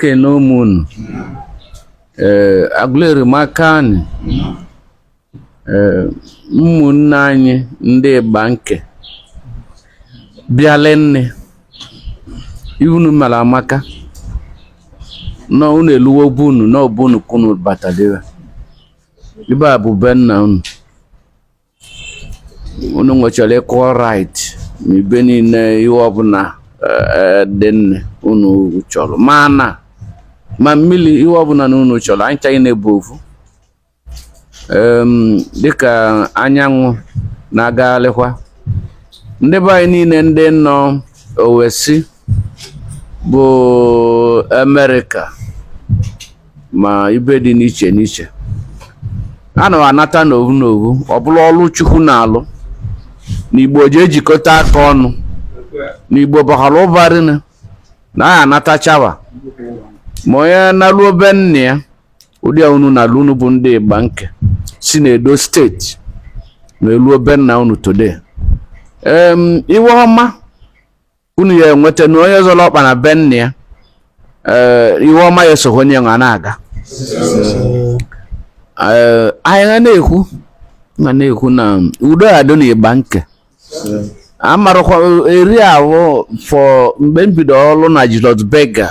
kene ụmụnụ ee eh, Aguleri maka anyị ee eh, ụmụnne anyị ndị Igbanke bịala nne unu mara maka na unu eluwo be unu na ọ be unu ka unu batadịra ibe a bụ be nna unu unu nwechara equal right na ibe niile iwe ọbụna eh, dị nne unu chọrọ ma ana ma mmili iwe ọbụna na unu chọrọ anyị ncha ya na-abụ ovu dịka anyị nwa na-agwalịkwa ndị be anyị niile ndị nọ oversea bụ Amerịka ma ibe dị n'iche n'iche a na anata n'ovu n'ovu ọ bụrụ ọrụ chukwu na-alụ n'igbo ji ejikọta aka ọnụ n'igbo bara ụba rinne na anyị anatachawa ma onye naluo be nna ya ụdị a unu nalu unu bụ ndị Igbanke si na Edo steeti naluo be nna unu today iwe ọma unu ya enweta na onye zọrọ ọkpa na be nna ya eh, iwe ọma ya esogho onye nwa na-aga eh, anyị ga na-ekwu ga na-ekwu na udo adị na Igbanke amarakwa area ahụ from mgbe m bido ọrụ na Julius Berger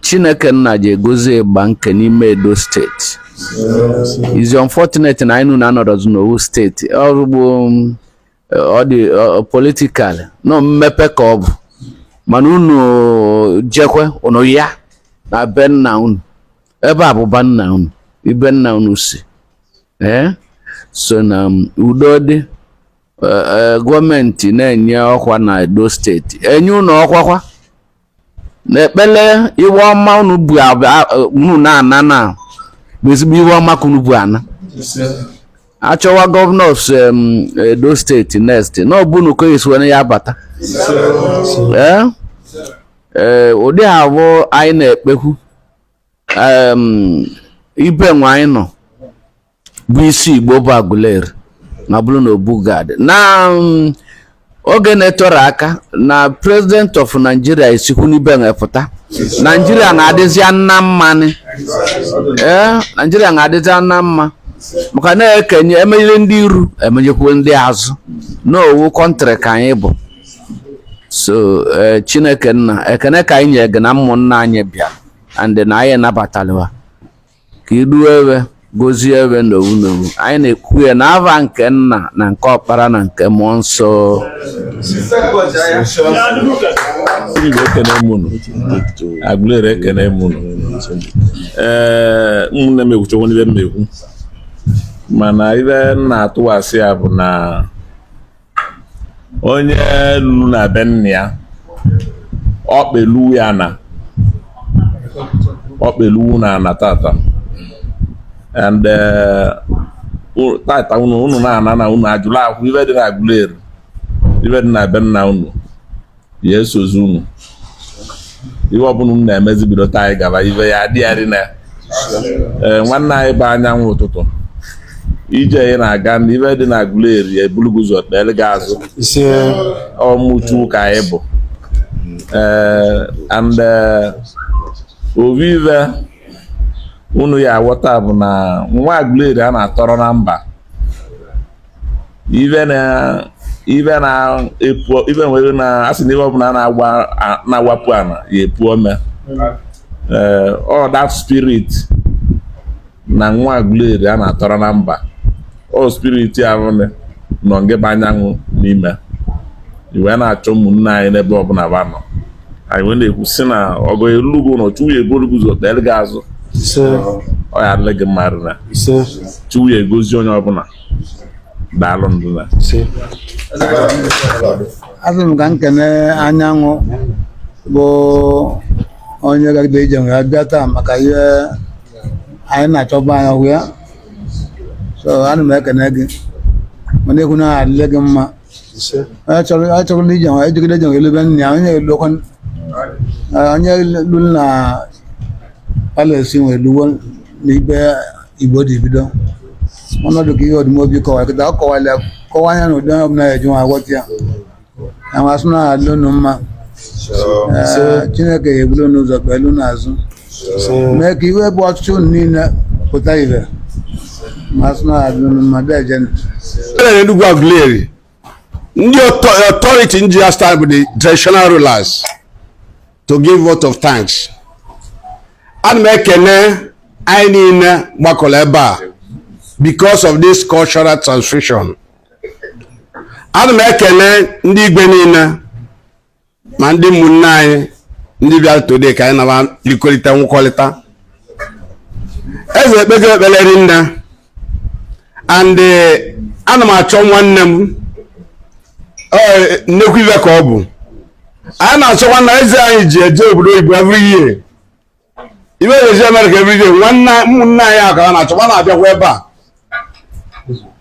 Chineke nna ji agọzi Igbanke n'ime Edo steeti is unfortunate na anyị na unu anọrọzi n'ovu steeti ọrụgbo ọ dị political na ọ mmepe ka ọ bụ mana unu jekwe unu ya ana be nna unu ebe a bụ be nna unu ibe nna unu si ee so na um, udo dị e, e, gọọmenti na-enye ọkwa na Edo steeti enye unu ọkwakwa n'ekpele iwe ọma unu bu unu na-ana na bụ ezigbo iwe ọma ka unu bu ana achọwa gọvanọ Edo steeti next na ọ bụ unu ka esi were ya bata ee eh? eh, ụdị ahụ anyị na-ekpekwu ibe nwa anyị nọ bụ isi Igbo bụ Aguleri ma bụrụ na Obu Gad na um, oge na-eterọ aka na president of Nigeria esikwu n'ibe pụta Nigeria na-adịzi na mma ee Nigeria na-adịzi na mma maka na-ekenye emenyere ndị iru emenyekwu ndị azụ na ovu kọntrị ka anyị bụ so eh, Chineke nna ekene ka anyị nye gị na ụmụnna anyị bịa and na anyị nabatalị wa ka idu ewe gozie ewe n'ovu n'ovu anyị na-ekwu ya n'ava nke nna na nke ọkpara na nke mmụọ nsọ Igbo ekene m unu Aguleri ekene m unu ee ụmụnne m ekwuchekwana ive m na-ekwu mana ive m na-atụwasị ya bụ na onye lulu na be nna ya ọkpa eluwo ya ana ọkpa eluwo unu ana tata and eh, tata unu unu na-ana na unu ajụla akwụ ive dị na Aguleri ive dị na be nna unu ya esozi unu ihe ọbụna unu na-emezi bido taa anyị gaba ive ya adịgharị na ee nwanne anyị bụ anyanwụ ụtụtụ ije ị na-aga na ive dị na Aguleri ebulu gị ụzọ kpere gị azụ ise ụmụ chukwu ka anyị bụ ee and ovu ive unu ya aghọta bụ na nwa Aguleri a na-atọrọ na mba ive na ive na epu ive nwere na asị na ive ọbụna na-awa na-awapụ ana ya epu ome ee ọ that spirit na nwa Aguleri a na-atọrọ na mba ọ spirit avụ nị nọ ngị bụ anyanwụ n'ime i wee na-achọ ụmụnne anyị n'ebe ọbụna ba nọ anyị wee na-ekwu sị na ọgọ elugo ụlọ chukwu ya eburu gị ụzọ kpere gị azụ ọ ya adịlị gị mma na chukwu ya egozi onye ọbụla daalụ ndụ na azụ m ka m kene anyanwụ bụ onye gagide ije wee bịa taa maka ihe anyị na-achọba anya hụ ya so ana m ekene gị ma na-ekwu na adịlị gị mma ise anyị chọrọ anyị chọrọ na ije anyị jegide ije elebe nne ya onye elokwa onye lu na palace wee luwo n'ibe igbo dị bido ọnọdụ ka ihe ọdụmobi kọwa kịta ọ kọwala kọwa anya na ụdị onye ọbụla eji nwa aghọta ya na ma sị na alụ unu mma ise Ee, chineke ya ebulu unu ụzọ kpelu unu azụ mee ka ive bụ ọchịchọ unu niile pụta ive ma sị na adị unu mma bịa jenu Ebe na Enugu Aguleri, ndị author- authority ndị ya stand bụ the traditional rulers to give vote of thanks. Ana m ekene anyị niile gbakọrọ ebe a because of this cultural transfusion. Ana m ekene ndị igwe niile ma ndị ụmụnne anyị ndị bịara today ka anyị na ba likọrịta nwụkọrịta eze ekpego ekpere rinne and eh, ana m achọ nwanne m nnekwu ive ka ọ bụ anyị na-achọ nwanne eze anyị ji eje obodo oyibo every year ibe na-esi amerịka everyday nwanne ụmụnne anyị ahụ ka a na-achọ ma na-abịakwa ebe a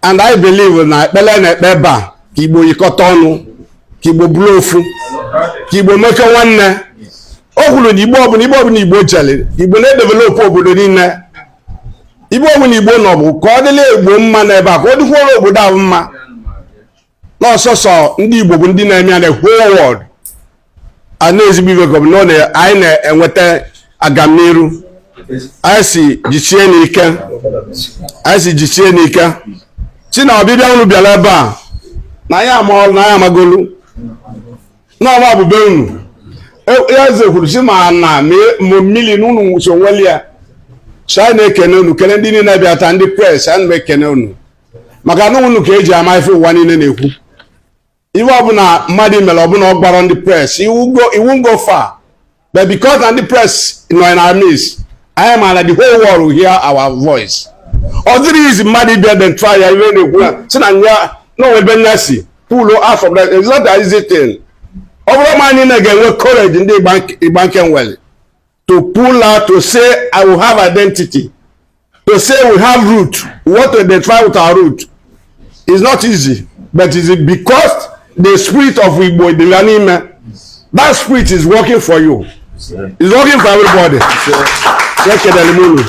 and i believe na ekpele a na-ekpe ebe a ka igbo yikọta ọnụ ka igbo bụrụ ofu ka igbo mekọ nwanne o kwuru na igbo ebe ọbụna igbo jeli igbo na-edevelopụ obodo niine ebe ọbụna igbo nọ bụ ka ọ dịlị igbo mma n'ebe a ka ọ dịkwuoro obodo ahụ mma na ọ sọsọ ndị Igbo bụ ndị na-eme ya na whole world a na-ezigbo ibe gọbụ na anyị na-enweta agamniru anyị sị jisienụ ike anyị sị jisienụ ike sị na ọbịbịa unu bịalụ ebe a na anyị ama ọrụ na anyị amagolu n'ọma bụbe unu e, ya eze kwuru sị ma ana ma mmili na unu so nwelu ya so anyị na-ekene unu kene ndị niile bịa taa ndị press anyị na-ekene unu maka na unu ka e ji ama ife ụwa niine na-ekwu ife ọbụna mmadụ mere ọbụla ọ gbara ndị press iwu ngo fa but because na ndị press nọ in our midst anyị ma na the whole world will hear our voice ọ dịrọ easy mmadụ ịbịa den try ya ife na-ekwu na si na nya na onwe ebe nya si pulo afọ bụla it's not an easy thing ọ bụrọ mmadụ niine ga-enwe courage ndị ịgba nke nwere to pull out to say I will have identity to say we have root we want to identify with our root is not easy but is it because the spirit of Igbo Idila n'ime that spirit is working for you is working for everybody ekelere m unu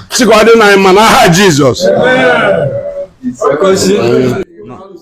sikwa dị na mma n'aha Jizọs